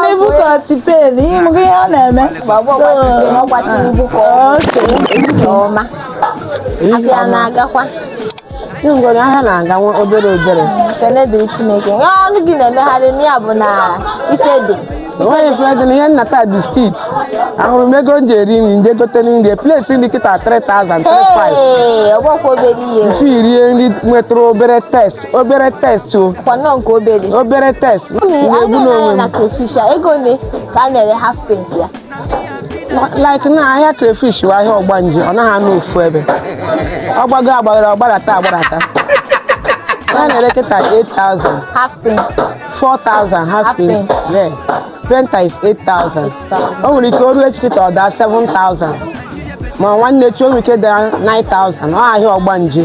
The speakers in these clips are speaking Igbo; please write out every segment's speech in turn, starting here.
Nebukọtị pen ịmụgo ihe ọ na-eme ọma afịa na-agakwa ngwere ahịa na-aga nwa obere obere ekele dịrị Chineke nwa ọnụ gị na-emegharị na ya bụ na ife dị enweghị ife dị na ihe m na-ata biskit ahụrụ m ego m ji eri nri m je gote nri pleti nri kịta 3000 35 ee ọ bụkwa obere ihe mfe irie nri nwetụrụ obere taste obere taste ọ kwanụ nke obere obere taste m ga-egbu n'onwe m crayfish ego ole ka a na-ere half paint ya like na ahịa crayfish bụ ahịa ọgbanje ọ naghị anọ ofu ebe ọ gbago agbago ọ gbarata agbarata a na-ere kịta 8000 half paint 4000 half paint yeah painter is 8000 o nwere ike o ruo echi kịta ọ daa 7000 ma nwanne echi o nwere ike daa 9000 ọ ahịa ọgbanje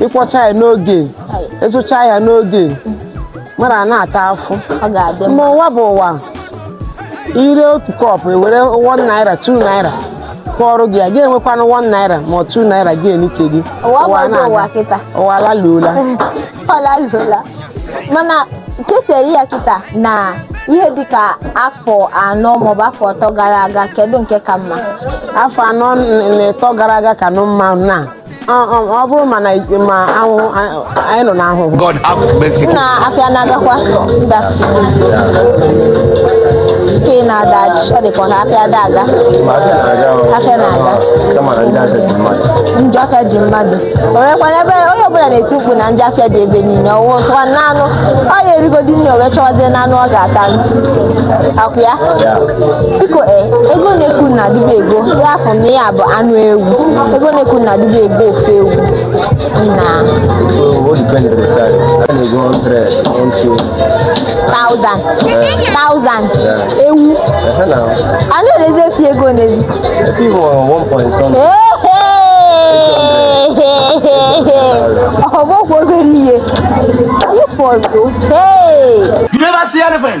ị kwọcha ya n'oge ị zụcha ya n'oge mara a na-ata afụ ọ ga-adị mma n'ụwa bụ ụwa ire otu kọpụ ewere 1 naira 2 naira kọọrọ gị ya gị enwekwana 1 naira ma ọ 2 naira gị enike gị ụwa bụ ọzọ na-aga. ụwa kịta ụwa alaluola ọlalụla mana ka e si ere ya kịta na ihe dịka afọ anọ maọbụ afọ atọ gara aga kedu nke ka mma afọ anọ na ịtọ gara aga kanụ mma na ọ bụrụ ma ahụhụ anyị nọ n'ahụhụ na afịa na-agakwa ndati nke na-ada ọ dịkwa na afịa ada aga afịa na-aga njọ afịa ji mmadụ o nwekwana ebe onye ọbụla na-eti mkpu na njọ afịa dị ebe niile ọ wụ sịkwa naanụ ọ ya erigodi nri o wee chọwazie na anụ ọ ga-atakwụ ya biko e ego na-ekwu na adịbe ego ya afọ m ya bụ anụ ewu ego na-ekwu na adịbe ego ofe ewu na thousand thousand ewu a na-erezi efi ego n'ezi ọ bụkwa obere ihe ịfọdụ hey you never see anything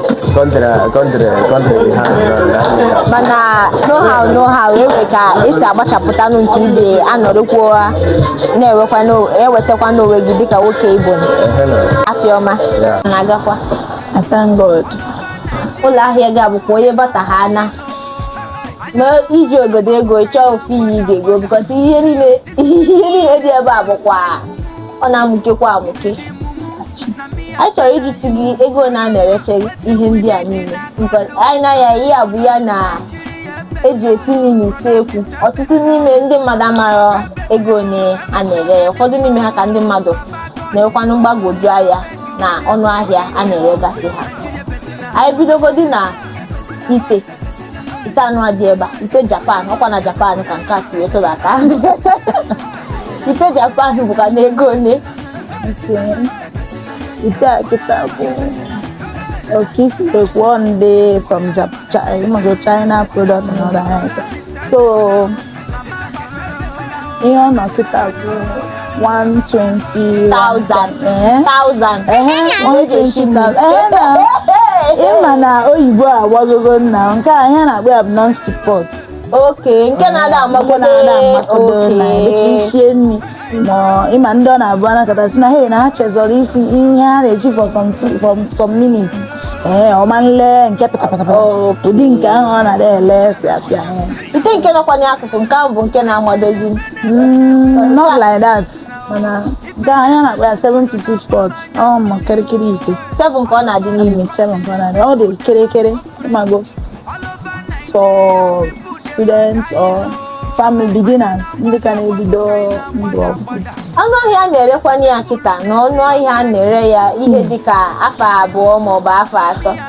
country, country, country dey hard. mana no how no how e nwe ka e si agbachapụta nụ nke ije anọrịkwa ụra na-ewekwa n'o- ewetakwa n'onwe gị dịka nwoke Igbo nọ. afịa ọma Yeah. na-agakwa I thank God. ụlọ ahịa gị abụkwa onye bata ha na ma iji ogodo ego chọọ ofu ihe ị ga-ego bikọta ihe niile ihe niile dị ebe a bụkwa ọ na-amụkekwa amụke anyị chọrọ ịjụtụ gị ego ole a na-ereche ihe ndị a niile anyị na ya ihe a bụ ya na eji esi nri n'usekwu ọtụtụ n'ime ndị mmadụ mara ego ole a na-ere ya ụfọdụ n'ime ha ka ndị mmadụ na-enwekwanụ mgbagwoju anya na ọnụ ahịa a na-eregasị ha anyị bidogodi na ite ite anụ a dị ebe a ite japan ọkwa na japan ka nke a si wee tụbata ite japan bụkwa na ego ole ite a kịta bụ oke isi ekwuo ndị from Jap- Chi- ịmago china product and others so ihe ọ nọ kịta bụ 120,000 120,000 ị ma na oyibo agbagogo nna nke a ihe a na-akpọ ya bụ non-stick pot okay nke na-ada amagodo na-ada amagodo na dịka i sie nri ma ị ma ndị ọ na-abụ anakọta si na he na ha chezọrọ isi ihe ha na-eji for some minutes ee ọ ma ele nke pịtapịtapịta ụdị nke ahụ ọ na-ada ele pịapịa ite nke nọkwa n'akụkụ nke ahụ bụ nke na-amadozi m. Mm, not like that mana nke a anyị na-akpọ ya 7 pieces pot ụmụ kirikiri ite seven ka ọ na-adị n'ime ime 7 ka ọ na-adị ọ dị kirikiri ịmago for students or family beginners ndị ka na-ebido ndụ ọfụ ọnụ ahịa a na-erekwa ya kịta na ọnụ ahịa a na-ere ya ihe dịka afọ abụọ maọbụ afọ atọ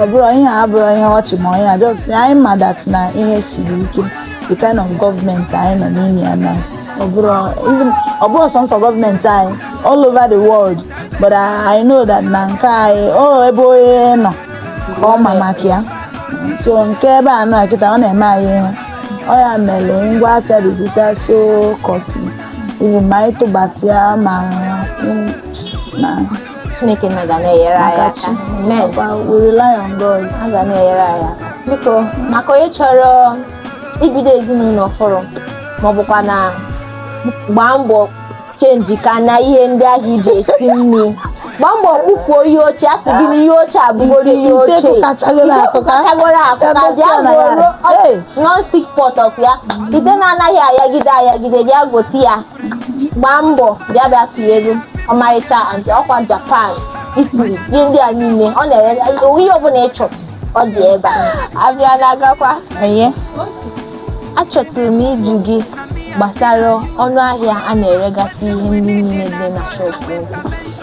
ọ bụrọ ihe a abụrọ ihe ọchị ma onye a just anyị ma that na ihe siri ike the kind of gọọmenti anyị nọ n'ime ya na ọ bụrọ even ọ bụrọ sọnsọ gọọmenti anyị all over the world but I, I know that na nke anyị o ebe onye nọ ka ọ ma maka ya so nke ebe a nọ kịta ọ na-eme anyị ihe ọ ya mere ngwa afịa dịsịsịa so costly even ma anyị tụbata ya ma mm, na Chineke na ga na-enyere anyị aka amen we rely on God a ga na-enyere anyị aka biko maka onye chọrọ ibido ezinụlọ ọhụrụ ma ọ bụkwa na gbaa mbọ chenji ka na ihe ndị ahụ i ji esi nri gbaa mbọ kpofuo ihe ochie a sị gị na ihe ochie abụgoro ihe ochie kụkachagoro akụka bịa goro non-stick pot ọ bụ ya ite na-anaghị ayagide ayagide bịa gote ya gbaa mbọ bịa bịa tụnyere m ọmarịcha and ọkwa japan Italy ihe ndị a niile ọ na-ere ihe ọbụla ị chọrọ ọ dị ebe a abịa na-agakwa enye achọtụrụ m ịjụ gị gbasara ọnụ ahịa a na-eregasị ihe ndị niile dị na shọpụ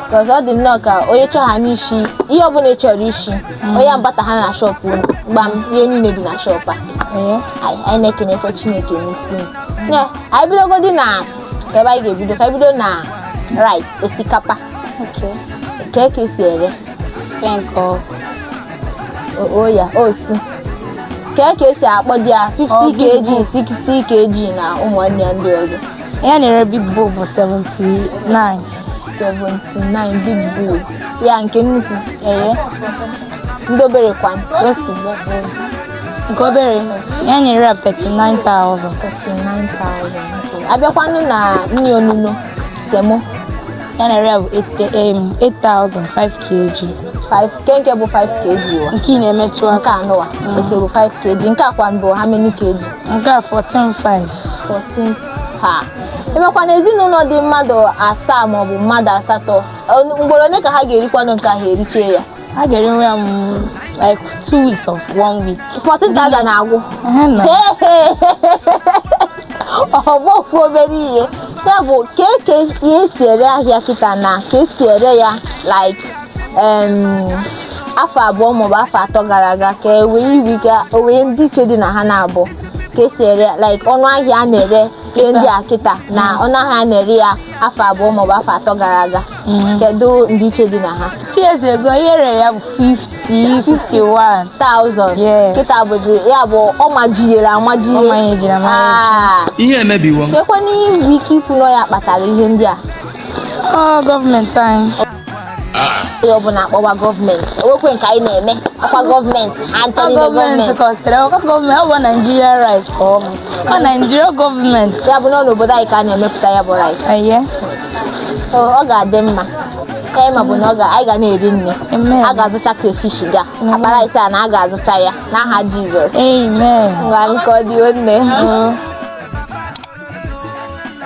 bikọz ọ dị nnọọ ka onye chọọ ha n'isi ihe ọbụla ị chọrọ isi onye agbata ha na shọpụ unu gbam ihe niile dị na shọpụ a anyị na-ekenekwa chineke n'ihi ya anyị bidogodi na ebe anyị ga-ebido ka anyị bido na rice osikapa Okay. kee ka esi ere Nke nke ọ o- o ya osu kee ka esi akpọdị ya Ọ, 50 big kg bowl. 60 kg na ụmụnne ya ndị ọzọ Ihe a na-ere big bowl bụ 79. 79 big bowl ya nke nnukwu Ee. ndị obere kwanụ Otu bowl. nke obere ya na-ere ya 39,000 abịakwanụ na nri onuno semo ihe a na-ere ya bụ 8,000 5 kg 5 nke nke bụ 5 kg wa nke ị na-emetụ nke aka anụwa nke bụ 5 kg nke akwa mbụ how many kg nke a 14,500 14 ha emekwa na ezinụlọ dị mmadụ asaa maọbụ mmadụ asatọ ọ- mgboro ole ka ha ga-erikwanụ nke ahụ erichee ya a ga-eri nri ya like two weeks or one week 14,000 na-agwụ ọ bọfu obere ihe ya bụ ka esi ere ahịa kịta na ka esi ere ya like afọ abụọ maọbụ afọ atọ gara aga kee ndị iche dị na ha naabọ ka esi ere like ọnụ ahịa a na-ere ihe ndị a kịta na ọnụ ahịa a na-ere ya afọ abụọ maọbụ afọ atọ gara aga Mm. kedu ndịiche dị na ha two years ago ihe e rere ya bụ 50 51 1000 Yes. kịta bụzi ya bụ ọ majiri amaji Ọ manyejiri amaji. ihe emebiwo kekwanụ ihe i nwere ike ikwu na ya kpatara ihe ndị a ọ gọọmenti anyị onye ọbụla akpọwa gọọmenti enwekwe nke anyị na-eme akwa gọọmenti ha ọ nchọrọ ime gọọmenti gọọmenti kọsịrị ọ gọọmenti ọ bụ Nigeria rice ka ọ bụ ọ Nigeria gọọmenti ya bụ na ọ n'obodo anyị ka a na-emepụta ya bụ rice eye ọ ga-adị mma ihe m ma bụ na anyị ga na-eri nri a ga-azụcha crayfish ga akpa rice a na a ga-azụcha ya n'aha Jizọs ngwa ka ọ dị nne